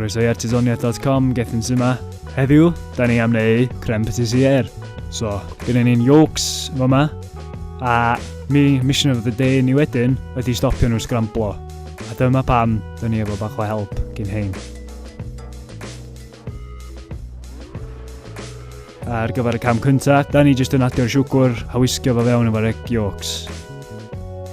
Croeso i artesoniaeth.com, Gethin sy'n yma. Heddiw, da ni am neu creme patissier. So, gyda ni'n yolks fo yma. A mi, mission of the day ni wedyn, ydy stopio nhw sgramblo. A dyma pam dyn ni efo bach o help gin hein. Ar gyfer y cam cynta, da ni jyst yn adio'r siwgwr a wisgio fo fewn efo'r egg yolks.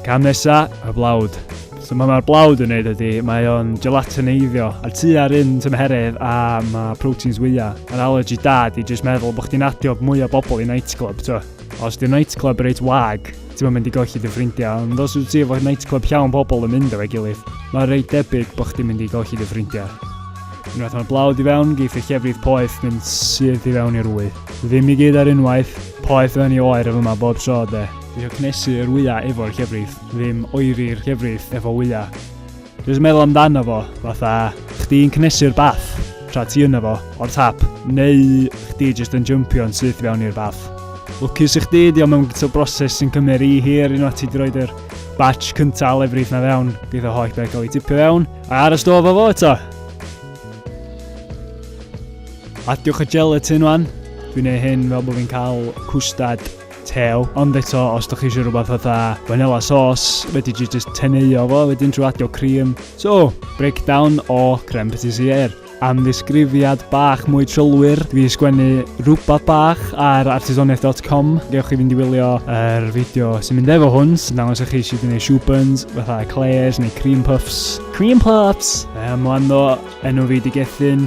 Cam nesa, y blawd. So mae mae'r blawd yn neud ydy, mae o'n gelatineiddio a tu ar un tymheredd a mae proteins wyau. Yr allergy da di jyst meddwl bod chdi'n adio mwy o bobl i nightclub, to. Os di nightclub reit wag, ti'n mynd i golli dy ffrindiau, ond os wyt ti efo nightclub llawn pobl yn mynd efo'i gilydd, mae reit debyg bod chdi'n mynd i golli dy ffrindiau. Unwaith mae'r blawd i fewn, geith y llefrith poeth mynd syth i fewn i'r wy. Ddim i gyd ar unwaith, poeth yn ei oer yma bob tro de. Dwi o cnesu yr wyau efo'r llefrith, ddim oeri'r llefrith efo wyau. Jyst meddwl amdano fo, fatha, chdi'n cnesu'r bath tra ti yna fo, o'r tap, neu chdi jyst yn jympio'n syth fewn i'r bath. Lwcus i chdi, di o mewn gyda broses sy'n cymryd rhi hir unwaith ti wedi rhoi'r batch cyntaf o lefrith na fewn, geith o holl beth cael ei tipio fewn, a ar y stof o fo eto. Adiwch y gelatin wan, dwi'n ei hyn fel bod fi'n cael cwstad tew, ond eto os da chi eisiau rhywbeth fatha vanilla sauce, fedri di just teneuo fo wedyn trwy adio cream. So, breakdown o creme patissier. Am ddisgrifiad bach mwy trylwyr, dwi wedi sgwennu rhywbeth bach ar artisoniaeth.com. Gewch chi fynd i wylio yr er fideo sy'n mynd efo hwn, sy'n dangos i chi sydd yn ei shoe buns, fatha eclairs neu cream puffs. Cream puffs! Mae am wando enw fi di gethyn.